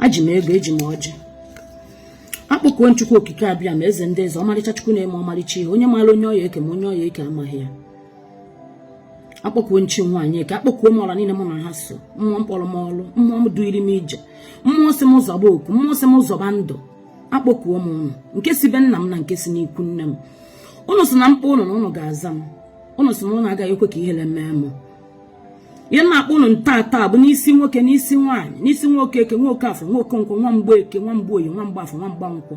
eji m ego eji m ọjị akpọkuo m chukwu okike abịama eze ndị eze ọmarịcha chukwu na-eme ọmarịcha ihe onye maara onye ọ ya-eke ma onye ọ ya-eke amaghị ya akpọkuo m chi nwaanyị eke akpọkuo m ọra niile mụ na ha so mmụọ kpọrọ m ọlụ mmụọ m duiri m ije mmụọ sị m zọba oku mmụọ sị m zọba ndụ akpọkuo m ụnụ nke si be nna m na nke si n'ikwu nne m ụnụ sị na m kpọọ ụnụ na ụnụ ga-aza m ụnụ sị na ụnụ agaghị ekwe ka ihere mee m ihe na-akpọ ụnụ tata bụ n'isi nwoke n'isi nwaanyị n'isi nwoke eke nwoke afọ nwoke nkwọ nwa mgbe eke nwa mgbe oye nwa mgbe afọ nwa mgbe nkwọ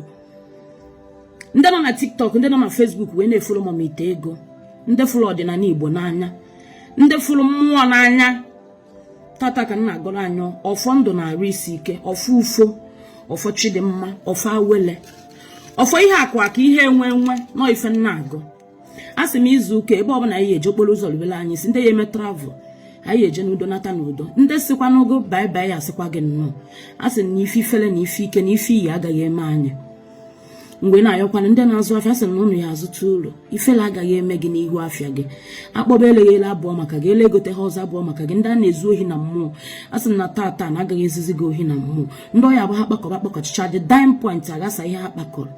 ndị nọ na tiktok ndị nọ na facebook wee na-efollow mama ite ego ndị fụrụ ọdịnala igbo n'anya ndị fụrụ mmụọ n'anya tata ka m na-agọrọ anyị ọfọ ndụ na arụ isi ike ọfọ ufo ọfọ chidimma ọfọ awele ọfọ ihe akụ akụ ihe enwe enwe nọ ife na-agụ a sị m izu ụka ebe ọbụla anyị eje okporo ụzọ rubere anyị isi ndị ya-eme travel anyị eje n'udo nata n'udo ndị sịkwanụ gị bye bye asịkwa gị nnọọ a sị na ife ifele na ife ike na ife iyi agaghị eme anyị mgbe na-ayọkwana ndị na-azụ afịa sị na ụnụ ya-azụta ulu ifele agaghị eme gị n'ihu afịa gị akpọba eleghị ele abụhọ maka gị ele egoteha ọzọ abụhọ maka gị ndị a na-ezu ohi na mmụọ a sị na tata na agaghị ezuzi gị ohi na mmụọ ndị ọ ya-abụ ha kpakọba kpakọchicha dị dime point aghasa ihe ha kpakọrọ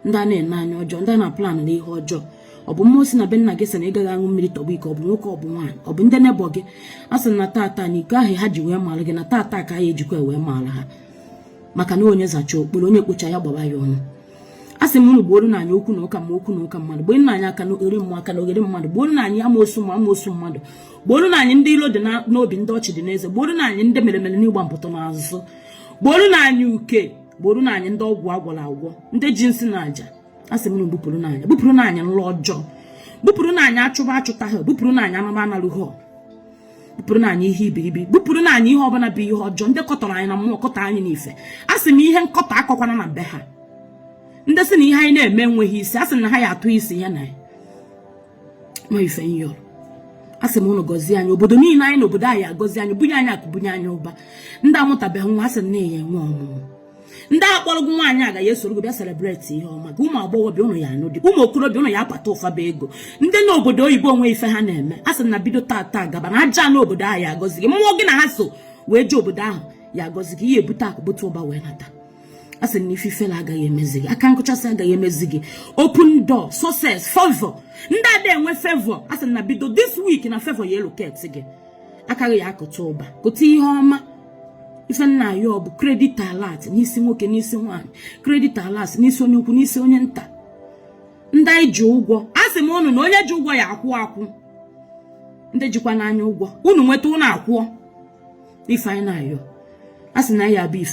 ndị a na-ene anya ọjọọ ndị a na-aplan ihe ọjọọ ọ bụ mmụọ si na be nna gị sị na ị gaghị aṅụ mmiri tọgbọ iko ọ bụ nwoke ọ bụ nwaanyị ọ bụ ndị neighbour gị a sị na tata na iko ahụ ha ji wee mara gị na tata ka a ya-ejikwa wee mara ha maka na onye zacha okporo onye kpocha ya gbaba ya ọnụ a sị m unu gbuoro na anyị okwu na ụka mmụọ okwu na ụka mmadụ gbuoro na anyị akalogheri mmụọ akalogheri mmadụ gbuoro na anyị amoosu mmụọ amoosu mmadụ gbuoro na anyị ndị ilo dị n'obi ndị ọchị dị n'eze gbuoro na anyị ndị mere mere n'ihu gwompiti n'azụ gbuoro na anyị uke gbuoro na anyị ndị ọgwụ agwọrọ agwọ ndị ji nsị na aja a sị m ụnụ bupụrụ na anyị bupụrụ na anyị nlọ ọjọọ bupụrụ na anyị achụba achụtaha bupụrụ na anyị anụba analụ ha bupụrụ na anyị ihe iberibe bupụrụ na anyị ihe ọbụla bụ ihe ọjọọ ndị kọtọrọ anyị na mmụọ kọtọ anyị n'ife a sị m ihe nkọtọ akọkwana na be ha ndị sị na ihe anyị na-eme enweghị isi a sị na ha ya-atụ isi ya na ya ma ife ihe ọrụ a sị m ụnụ gọzie anyị obodo niile anyị nọ obodo anyị agọzie anyị bunye anyị akụ bunye anyị ụba ndị amụtabeghị nwa a sị na ya-enwe ọmụmụ ndị akpọrọ gị nwaanyị aga ya-esoro gị bịa celebrate ihe ọma gị ụmụ agbọghọbịa ụnụ ya-anụ di ụmụ okorobịa ụnụ ya-apata ụfaba ego ndị nọ obodo oyibo o nwee ife ha na-eme a sị na bido tata gaba na aja ana obodo ahụ ya-agọzi gị mmụọ gị na ha so wee jee obodo ahụ ya-agọzi gị ị ya-ebute akụ bute ụba wee nata a sị na ifele agaghị emezi gị aka nkụchasị agaghị emezi gị open door success favor ndị ada enwe favor a sị na bido this week na favor ya-elocate gị aka gị ya-akụta ụba kụta ihe ọma ife nna ya ọ bụ credit alert n'isi nwoke n'isi nwaanyị credit alert n'isi onye ukwu n'isi onye nta ndị anyị ji ụgwọ a sị m unu na onye ji ụgwọ ya-akwụ akwụ ndị jikwanụ anyị ụgwọ unu nweta unu akwụọ ife anyị na-ayọ a sị na ya bụ ife